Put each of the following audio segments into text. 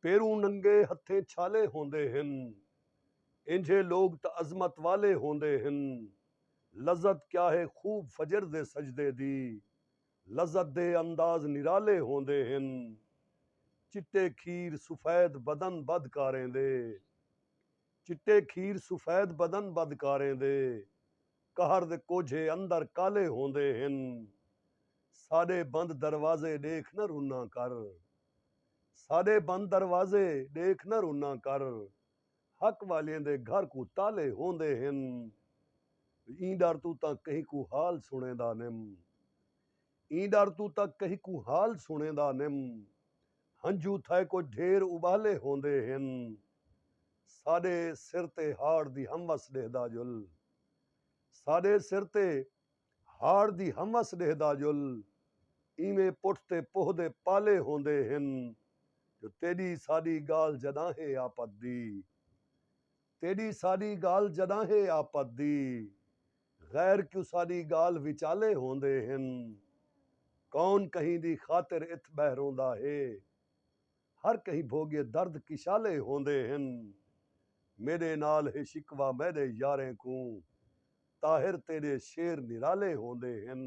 پیروں ننگے ہتھیں چھالے ہوندے ہن۔ اینجھے لوگ تاں عظمت والے ہوندے ہن۔ لذت کیا ہے خوب فجر دے سجدے دی۔ لذت دے انداز نرالے ہوندے ہن۔ چٹے کھیر سفید بدن بد کاریں دے۔ چٹے کھیر سفید بدن بد کاریں دے۔ قہر دے کوجھے اندر کالے ہوندے ہن۔ ساݙے بند دروازے ݙیکھ نہ رناں کر۔ ساݙے بند دروازے ݙیکھ نہ رناں کر حق والیں دے گھر کوں تالے ہوندے ہن ایں ݙر توں تاں کہیں کوں حال سݨیندا نیم ایں ݙر توں تاں کہیں کوں حال سݨیندا نیم ہنجھو تھئے کجھ ڈھیر ابالے ہوندے ہن ساݙے سر تے ہاڑ دی ہم وس ݙیہدا جل ساݙے سر تے ہاڑ دی ہمس ݙیہدا جل اینویں پٹھ تے پوہ دے پالے ہوندے ہن جو تیݙی ساݙی ڳالھ جݙاں ہے آپت دی تیݙی ساݙی ڳالھ جݙاں ہے آپت دی غیر کیوں ساݙی ڳالھ وچالے ہوندے ہن کون کہیں دی خاطر اتھ ٻہہ روندا ہے ہر کہیں بھوڳے درد کشالے ہوندے ہن میݙے نال ہے شکوہ میݙے یاریں کوں طاہر تیݙے شعر نرالے ہوندے ہن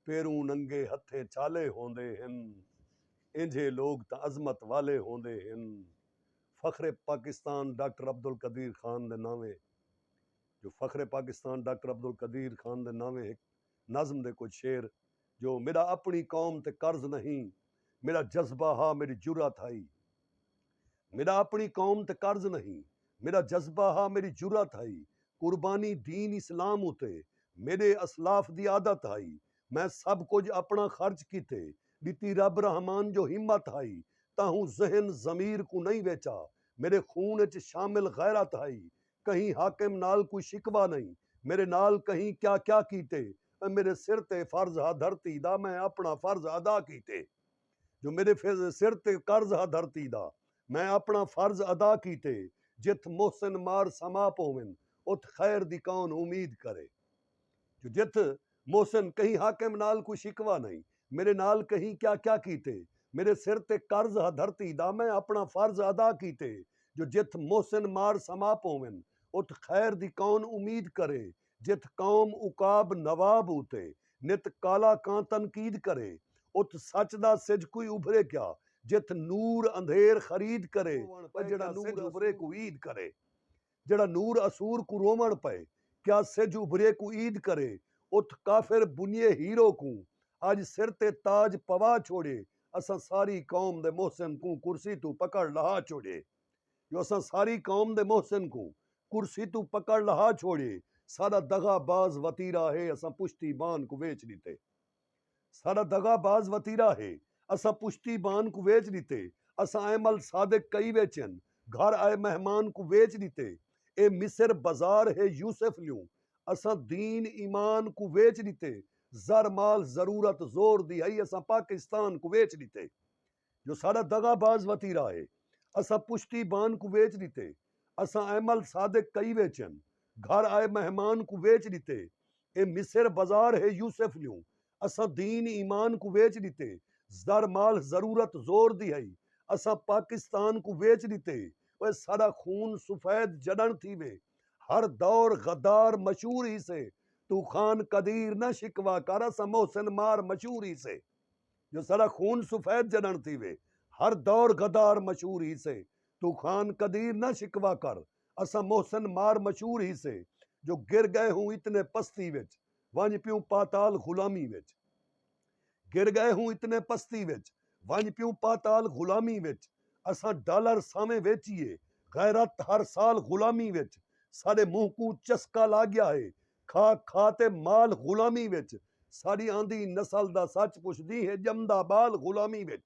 پیروں ننگے ہتھیں چھالے ہوندے ہن اینجھے لوگ تاں عظمت والے ہوندے ہن فخر پاکستان ڈاکٹر عبدالقدیر خان دے نانویں جو فخر پاکستان ڈاکٹر عبدالقدیر خان دے نانویں ہک نظم دے کجھ شعر جو میݙا اپݨی قوم تے قرض نہیں میݙا جذبہ ہا میݙی جرات ہئی میݙا اپݨی قوم تے قرض نہیں میݙا جذبہ ہا میݙی جرات ہئی قربانی دین اسلام اتے میݙے اسلاف دی عادت ہئی میں سب کجھ اپݨا خرچ کیتے ݙتی رب رحمان جو ہمت ہئی تاہوں ذہن ضمیر کوں نہیں ویچا میݙے خون اچ شامل غیرت ہئی کہیں حاکم نال کوئی شکوہ نئیں میرے نال کہیں کیا کیا کیتے اے میرے سر تے فرض ہا دھرتی دا میں اپنا فرض ادا کیتے جو میرے سر تے قرض ہا دھرتی دا میں اپنا فرض ادا کیتے جتھ محسن مار سما پوون اتھ خیر دی کون امید کرے۔ جو جتھ محسن کہیں حاکم نال کوئی شکوہ نئیں میڈے نال کہیں کیا کیا کیتے میڈے سر تے قرض ہا دھرتی دا میں اپنا فرض ادا کیتے جو جتھ محسن مار سما پوون اتھ خیر دی کون امید کرے جتھ قوم عقاب نواب اتے نت کالا کاں تنقید کرے اتھ سچ دا سجھ کوئی ابھرے کیا جتھ نور اندھیر خرید کرے جیڑھا سجھ ابھرے کوئی عید کرے۔ جیہڑا نور اسور کوں رووݨ پئے کیا سجھ ابھریے کوں عید کرے اتھ کافر بنیے ہیرو کوں اج سر تے تاج پوا چھوڑیے اساں ساری قوم دے محسن کوں کرسی توں پکڑ لہا چھوڑیے جو اساں ساری قوم دے محسن کوں کرسی توں پکڑ لہا چھوڑیے ساڈا دغا باز وتیرا ہے اساں پشتی بان کوں ویچ ݙتے۔ ساڈا دغا باز وتیرا ہے۔ اساں پشتی بان کوں ویچ ڈتے۔ اساں ائے مل صادق کئی ویچن۔ گھر ائے مہمان کوں ویچ ڈتے۔ اے مصر بزار ہے یوسف لیوں۔ اساں دین ایمان کوں ویچ ڈتے۔ زر مال ضرورت زور دی ہئی اساں پاکستان کوں ویچ ڈتے۔ جو ساڈا دغا باز وتیرا ہے اساں پشتی بان کوں ویچ ڈتے اساں ایمل صادق کئی ویچن گھر آئے مہمان کوں ویچ ڈتے اے مصر بزار ہے یوسف لیوں اساں دین ایمان کوں ویچ ڈتے زر مال ضرورت زور دی ہئی اساں پاکستان کوں ویچ ڈتے اوئے ساڈا خون سفید جڈن تھیوے ہر دور غدار مشہور ہیسے توں خان قدیر نہ شکوا کر اساں محسن مار مشہور ہیسے جو ساڈا خون سفید جنݨ تھیوے ہر دور غدار مشہور ہیسے توں خان قدیر نہ شکوہ کر اساں محسن مار مشہور ہیسے جو گر گئے ہوں اتنے پستی وچ ونڄ پیوں پاتال غلامی وچ گر گئے ہوں اتنے پستی وچ ونڄ پیوں پاتال غلامی وچ اساں ڈالر سانویں ویچیے غیرت ہر سال غلامی وچ ساڈے منہ کوں چسکا لاگیا ہے کھا کھا تے مال غلامی وچ ساڈی آندی نسل دا سچ پچھدی ہے ڄمدا ٻال غلامی وچ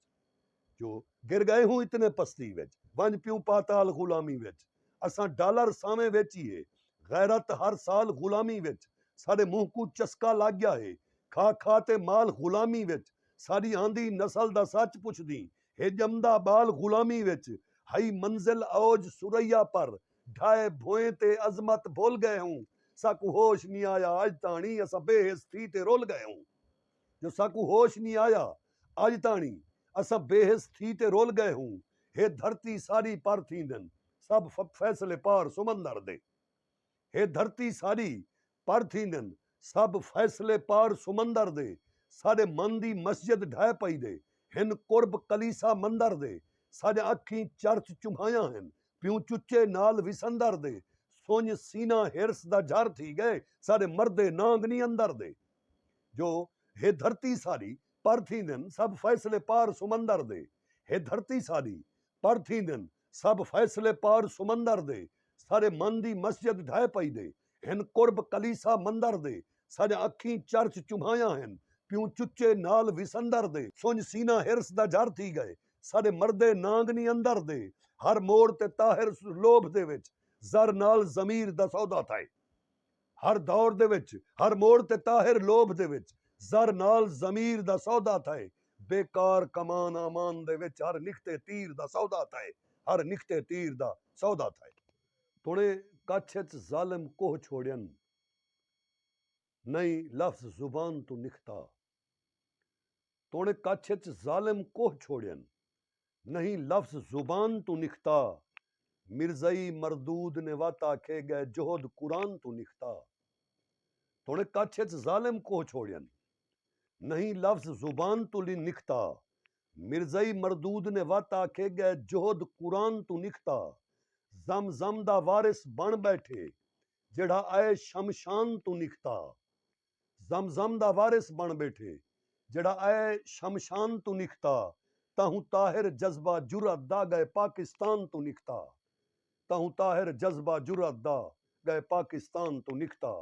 جو گر گئے ہوں اتنے پستی وچ ونڄ پیوں پاتال غلامی وچ اساں ڈالر سانویں ویچیے غیرت ہر سال غلامی وچ ساڈے منہ کوں چسکا لگ گیا ہے کھا کھا تے مال غلامی وچ ساڈی آندی نسل دا سچ پچھدی ہے ڄمدا ٻال غلامی وچ ہئی منزل اوج ثریا پر ڈھائے بھوئیں تے عظمت بھل ڳئے ہوں ساکوں ہوش نی آیا اڄ تاݨی اساں بے حس تھی تے رل ڳئے ہوں جو ساکوں ہوش نی آیا اڄ تاݨی اساں بے حس تھی تے رل ڳئے ہوں ہے دھرتی ساݙی پر تھیندن سب فیصلے پار سمندر دے ہے دھرتی ساݙی پڑ تھیندن سب فیصلے پار سمندر دے ساڈے من دی مسجد ڈھہ پئی دے ہن قرب کلیسا مندر دے ساڈیاں اکھیں چرچ چمھایاں ہن پیوں چچے نال وسندر دے سنج سینہ حرص دا جھر تھی گئے ساڈے مردے نانگ نی اندر دے جو ہے دھرتی ساڈی پڑ تھیندن سب فیصلے پار سمندر دے ہے دھرتی ساڈی پڑ تھیندن سب فیصلے پار سمندر دے۔ سارے من دی مسجد ڈھہہ پئی دے۔ ہن قرب کلیسا مندر دے۔ ساݙیاں اکھیں چرچ چوبھایاں ہن۔ پیوں چچے نال وسندر دے۔ سنڄ سینہ حرص دا جھر تھی ڳئے۔ ساݙے مردے نانگ نی اندر دے۔ ہر موڑ تے طاہر لوبھ دے وچ۔ زر نال ضمیر دا سودا تھئے۔ ہر دور دے وچ ہر موڑ تے طاہر لوبھ دے وچ زر نال ضمیر دا سودا تھئے بے کار کمان آمان دے وچ ہر نکھتے تیر دا سودا تھئے ہر نکھتے تیر دا سودا تھئے۔ توڑیں کچھ اچ ظالم کوہ چھوڑین نئیں لفظ زبان توں نکھتا۔ توڑے کچھ اچ ظالم کوہ چھوڑین نہیں لفظ زبان توں نکھتا مرزئی مردود نے وت آکھے گئے جہد قرآن توں نکھتا توڑے کچھ اچ ظالم کوہ چھوڑین نہیں لفظ زبان توں نکھتا مرزئی مردود نے وت آکھے گئے جہد قرآن توں نکھتا زم زم دا وارث بن بیٹھے جیڑھا آئے شمشان توں نکھتا۔ زمزم دا وارث بݨ ٻیٹھے جیڑھا اے شمشان توں نکھتا تہوں طاہر جذبہ جرات دا ڳئے پاکستان توں نکھتا تہوں طاہر جذبہ جرات دا ڳئے پاکستان توں نکھتا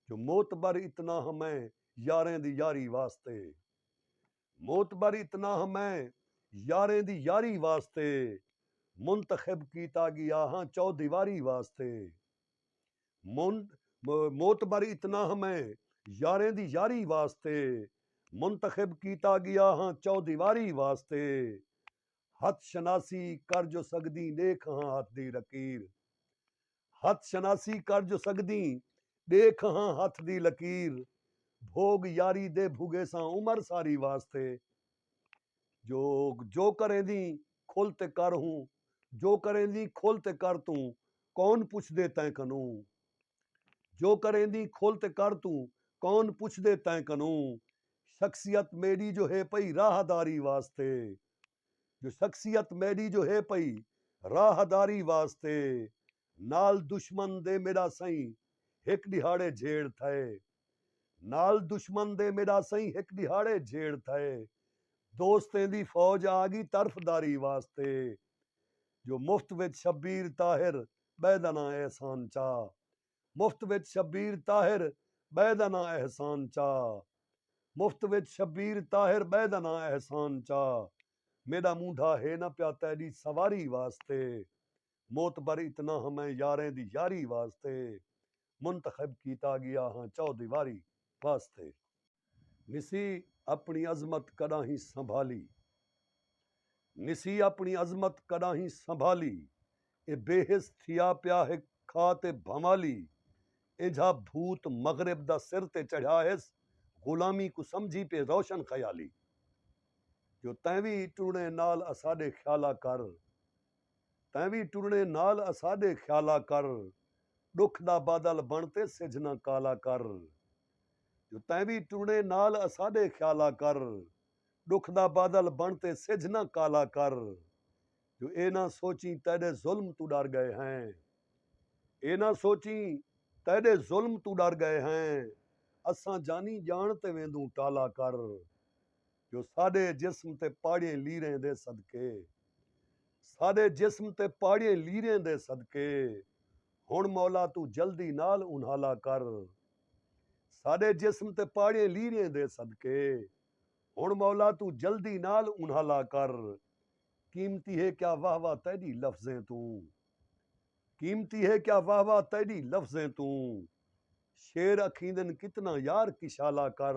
جو معتبر اتنا ہاں میں یاریں دی یاری واسطے معتبر اتنا ہاں میں یاریں دی یاری واسطے منتخب کیتا ڳیا ہاں چودیواری واسطے معتبر اتنا ہاں میں یاریں دی یاری واسطے منتخب کیتا گیا ہاں چودیواری واسطے ہتھ شناسی کر جو سگدیں ڈیکھ ہاں ہتھ دی لکیر ہتھ شناسی کر جو سگدیں ڈیکھ ہاں ہتھ دی لکیر بھوگ یاری دے بھگیساں عمر ساری واسطے جو جو کریندیں کھل تے کر ہوں جو کریندیں کھل تے کر توں کون پچھ دے تیں کنوں جو کریندیں کھل تے کر توں کون پچھ دے تیں کنوں شخصیت میڈی جو ہے پئی راہ داری واسطے جو شخصیت میڈی جو ہے پئی راہ داری واسطے نال دشمن دے میݙا سئیں ہک ݙیہاڑے جھیڑ تھئے نال دشمن دے میݙا سئیں ہک ݙیہاڑے جھیڑ تھئے دوستیں دی فوج آ ڳی طرفداری واسطے جو مفت وچ شبیر طاہر ٻئے دا ناں احسان چا مفت وچ شبیر طاہر ٻئے دا ناں احسان چا مفت وچ شبیر طاہر ٻئے دا ناں احسان چا میݙا مونڈھا ہے نہ پیا تیݙی سواری واسطے معتبر اتنا ہاں میں یاریں دی یاری واسطے منتخب کیتا گیا ہاں چودیواری واسطے۔ نسی اپنی عظمت کڈاہیں سنبھالی نسی اپنی عظمت کڈاہیں سنبھالی اے بے حس تھیا پیا ہک کھا تے بھنوالی اینجھا بھوت مغرب دا سر تے چڑھیا ہس غلامی کوں سمجھی پے روشن خیالی جو تیں وی ٹرڑیں نال اساڈے خیالا کر تیں وی ٹرنے نال اساڈے خیالا کر ڈکھ دا بادل بن تے سجھ نہ کالا کر جو تیں وی ٹرنے نال اساڈے خیالا کر ڈکھ دا بادل بن تے سجھ نہ کالا کر جو اے نہ سوچیں تیڈے ظلم توں ڈر گئے ہیں اے نہ سوچیں تیڈے ظلم توں ڈر گئے ہیں اساں جانی جان تے ویندوں ٹالا کر جو ساݙے جسم تے پاڑیں لیریں دے صدقے ساݙے جسم تے پاڑیں لیریں دے صدقے ہݨ مولا توں جلدی نال انہالا کر ساݙے جسم تے پاڑیں لیریں دے صدقے ہݨ مولا توں جلدی نال انہالا کر قیمتی ہے کیا واہ واہ تیݙی لفظیں توں قیمتی ہے کیا واہ واہ تیݙی لفظیں توں شیر اکھیندن کتنا یار کشالا کر